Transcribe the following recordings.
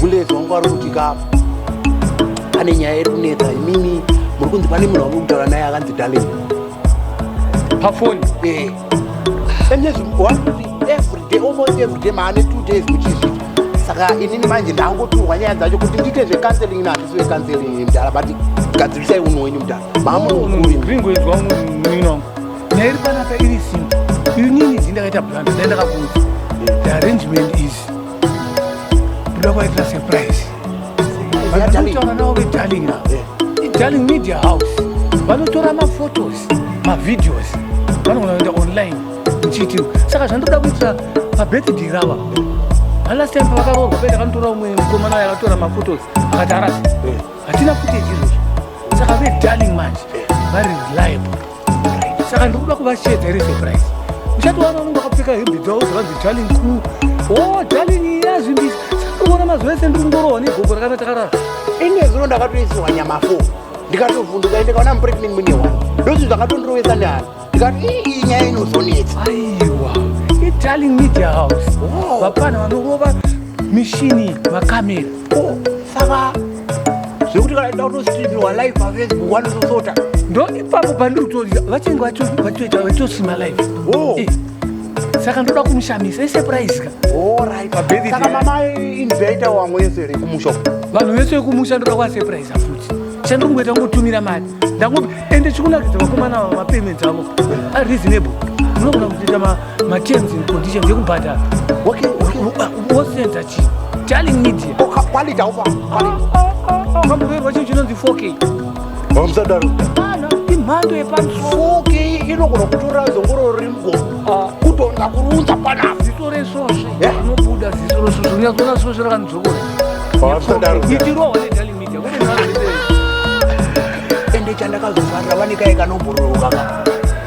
Bullet wangu ari kuti ka pane nyaya iri kunetsa imimi muri kunzi pane munhu wamuri kutaura naye akanzi darling pafoni eh endezvi one every day almost every day maane two days muchizvi saka inini manje ndangoturwa nyaya dzacho kuti ndiite zvecounseling nahatisi vecounseling mdara but gadzirisai unhu wenyu mdara maamunokuringoizwa munhu wangu nyaya iri panapa iri simple inini izi ndakaita plan dai ndakakuudza the arrangement is toda kwaitira surprise vanotaura navo vedarling avo idarling media house vanotora maphotos mavideos vanogona kuenda online muchiti saka zvandoda kuitira pabirthday rava alast time pavakaroorwa penda kanotora umwe mukomana ayo akatora maphotos akati arasa hatina footage izvozvo saka vedarling manje vari reliable saka ndiri kuda kuvashedza here surprise uchatowana unenge wakapfeka hembe dzavo dzavanzi darling crew o darling yazvimbisa sakaona mazuva ese ndiri kungorohwa negogo rakana takarara ine zino ndakatoisiwa nyama fo ndikatovhunduka ende kaona mupregnant mune wani ndozvi zvakatondirovesa nehana ndikati ii nyaya inozonetsa aiwa idarling media house vapana vanorova mishini makamera Oh, saka zvekuti kana ida kutostreamirwa live pafacebook wanotosota ndo ipapo pandiri kutoziva vachenge vatoita vachitosima live oh. eh, saka ndoda kumushamisa isurprise ka saka mama invaita wamwe yese ri kumusha vanhu vese vekumusha ndoda kuvasurprise futi chandongoita ngotumira mari ndango ende chikunakidza vakomana vamapayment avo areasonable unogona kutoita Materms and conditions yekubhadhara. Okay, okay. What sense are you? Telling me dear. Oh, quality over. Kamuverwa chinhu chinonzi 4K. Vamusadaro. Kana imhando yepamusoro. 4K inogona kutora zongororo riri mugomo. Kutonda kurunza panapa. Ziso resvosve. Rinobuda ziso resvosve. Unyatsona svosve rakanzokora. Vamusadaro. Itirowa netelling me dear. Kune nharo ende chandakazofarira vane kaye kanombororoka ka.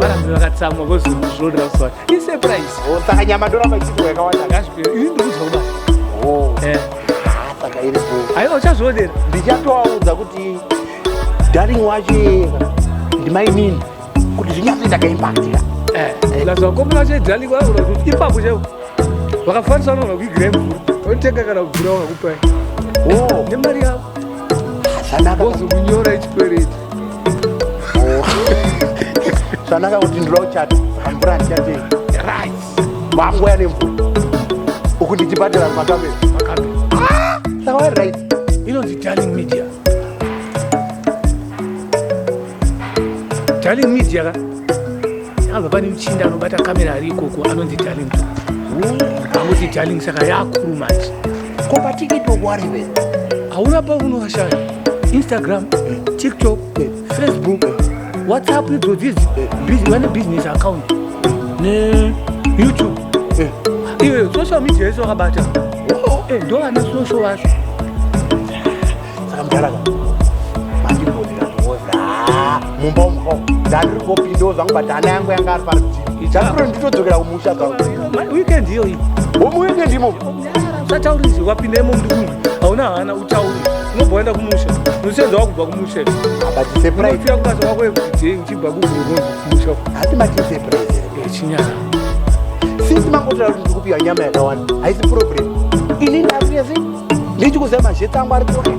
varambe vakatsamwa vozozvoda kuswata isurprise oh, saka nyama ndoramba ichidwa yakawanda ngazvipere ini ndikuudza kudai oh. eh. saka iri bho aiwa uchazviodera ndichatovaudza kuti daring wacho yeka ndimainini kuti zvinyatsoita kaimpactira eh. eh. lazvakomba vacho idaring vaura kuti ipapo chaivo vakafanisa vanogona kuigirei mvura otenga kana mvura wakakupai oh. nemari yavo ozokunyora ichikwereti oh. zvanaka kuti ndinoda kuchata amvura handichate right makuya nemvura uku ndichibhadhara makamera ah! saka wari right inonzi darling media darling media ka Apa pane muchinda anobata kamera ari ikoko anonzi darling. Anonzi darling saka yaakuru manje. Ko patikito wariwe. Hauna paunoashaya. Instagram, TikTok, Facebook, WhatsApp idzo dzidzi. Vane business account. Ne YouTube. Iwe social media yese wakabata. Oh, eh, ndo vane social vacho. saka mudhara ka mandimboira kuoza ah, mumba umho dzandiri kopindawo zvangu but ana yangu yanga ari parutivi chakuro nditodzokera kumusha zvangu weekend iyoyi homu weekend imo usataurizve wapinda imo ndi kumwe hauna hana utauri unobva waenda kumusha unosenza wakubva kumusha abatisepuraifira kubasa wako yekuti uchibva kuguruhonzi kumusha hati matisepuraise chinyara since mangotaura kuti ndikupiwa nyama yakawanda haisi problem ini ndakuyezi ndichikuziva mazheti angu ari kuona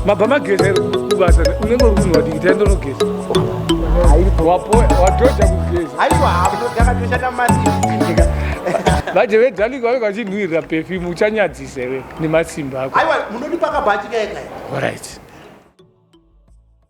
mabva mageza iri kubasa unenge uri kunhu wadiki taenda unogeza watoja kugeza aiwa haunodakatoshanda masinzika vaje vedhalika vave vachinhuirira pefim uchanyadzisa iwe nemasimba ako aiwa munodipa kabhachi kaekae orit